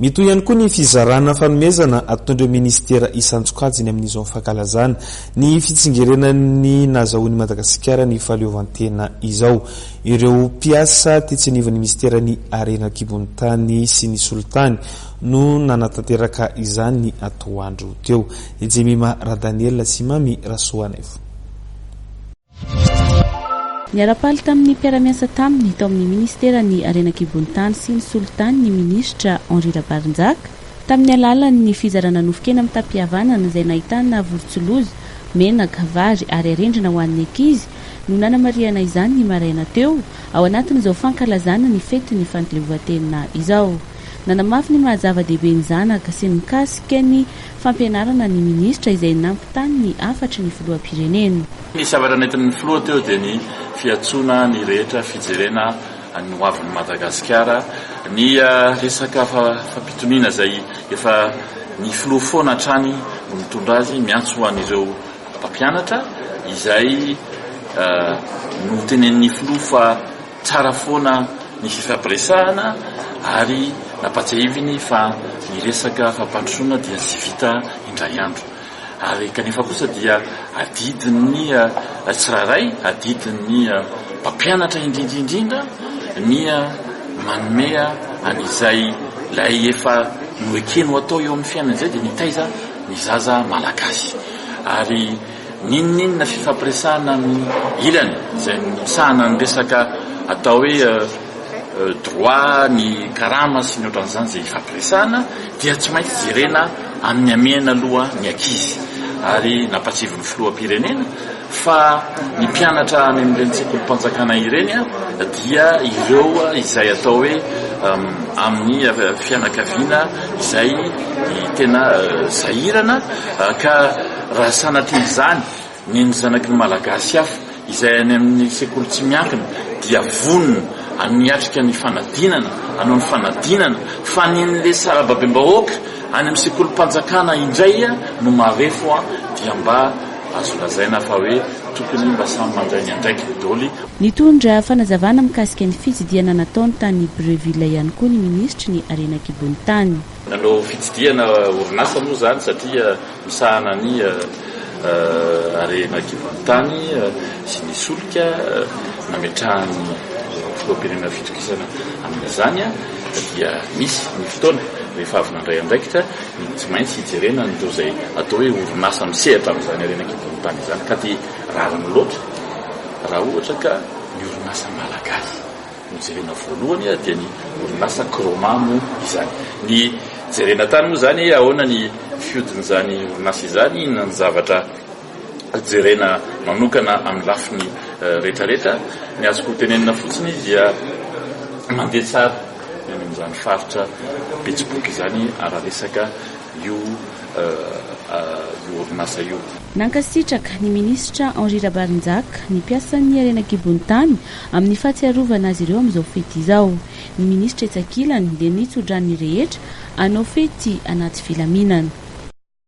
Mitohy ihany koa ny fizarana fanomezana ataon'ireo minisitera isan-tsokajiny amin'izao fankalazana ny fitsingerenan'ny nahazahoan'i Madagasikara ny fahaleovantena izao ireo mpiasa tetsy anivon'ny minisiteran'ny harena an-kibon'ny tany sy ny solitany no nanatanteraka izany atoandro teo. Jemima Radaniel sy Mamy Rasoanaivo. Niara-paly tamin'ny mpiara-miasa taminy tao amin'ny Minisiteran'ny Harena An-kibontany sy ny Solitany ny Minisitra Henri Rabarinjaka, tamin'ny alalan'ny fizarana nofon-kena mitam-pihavanana izay nahitana vorontsiloza, menaka, vary ary arendrina ho an'ny ankizy, no nanamarihana izany ny maraina teo, ao anatin'izao fankalazana ny fetin'ny Fandilevoantena izao. Nanamafy ny maha-zava-dehibe ny zanaka sy ny mikasika ny. Fampianarana ny minisitra izay nampitainy ny hafatry ny filoham-pirenena. Ny zavatra nentin'ny filoha teo dia ny fiantsoana ny rehetra fijerena ny ho avin'i Madagasikara, ny resaka fampitoniana izay efa ny filoha foana hatrany no mitondra azy, miantso an'ireo mpampianatra izay notenenin'ny filoha fa. Tsara foana ny fifampiresahana ary nampatsiahiviny fa ny resaka fampandrosoana dia tsy vita indray andro ary kanefa kosa dia adidin'ny tsirairay, adidin'ny mpampianatra indrindra indrindra ny manome an'izay ilay efa noekeny ho atao eo amin'ny fiainana izay dia mitaiza ny zaza malagasy ary. N'inon'inona fifampiresahana amin'ny ilany izay misahana ny resaka atao hoe droit, ny karama sy ny ohatran'izany izay hifampiresahana dia tsy maintsy jerena amin'ny hamehana aloha ny ankizy ary nampatsiavin'ny Filoham-pirenena fa ny mpianatra any amin'ireny sekolim-panjakana ireny dia ireo izay atao hoe amin'ny fianakaviana izay tena sahirana ka Raha sanatria izany, ny ny zanaky ny Malagasy hafa izay any amin'ny sekoly tsy miankina dia vonona haniatrika ny fanadinana, hanao ny fanadinana, fa ny ny le sarababem-bahoaka any amin'ny sekolim-panjakana indray no marefo dia mba azo lazaina fa hoe tokony mba samy mandray ny andraikiny doly. Nitondra fanazavana mikasika ny fitsidihana nataony tany Brieville ihany koa ny minisitry ny harena an-kibon'ny tany. Nanao fitsidihana orinasa moa izany satria misahana ny harena kibon-tany sy ny solika nametrahan'ny filoham-pirenena fitokisana amin'izany dia misy ny fotoana rehefa avy nandray andraikitra ny tsy maintsy hijerena an'ireo izay atao hoe orinasa misehatra amin'izany harena kibon-tany izany ka dia rariny loatra raha ohatra ka ny orinasa malagasy No jerena voalohany dia ny orinasa Chroma moa izany. Ny jerena tany moa izany hoe ahoana ny fihodin'izany orinasa izany, inona ny zavatra jerena manokana amin'ny lafiny rehetrarehetra. Ny azoko tenenina fotsiny dia mandeha tsara ny amin'izany faritra Betsiboka izany raha resaka io orinasa io. Nankasitraka ny minisitra Henri Rabarinjaka ny mpiasan'ny harena an-kibon'ny tany amin'ny fahatsiarovana azy ireo amin'izao fety izao. Ny minisitra etsy ankilany dia nitso-drano ny rehetra hanao fety anaty filaminana.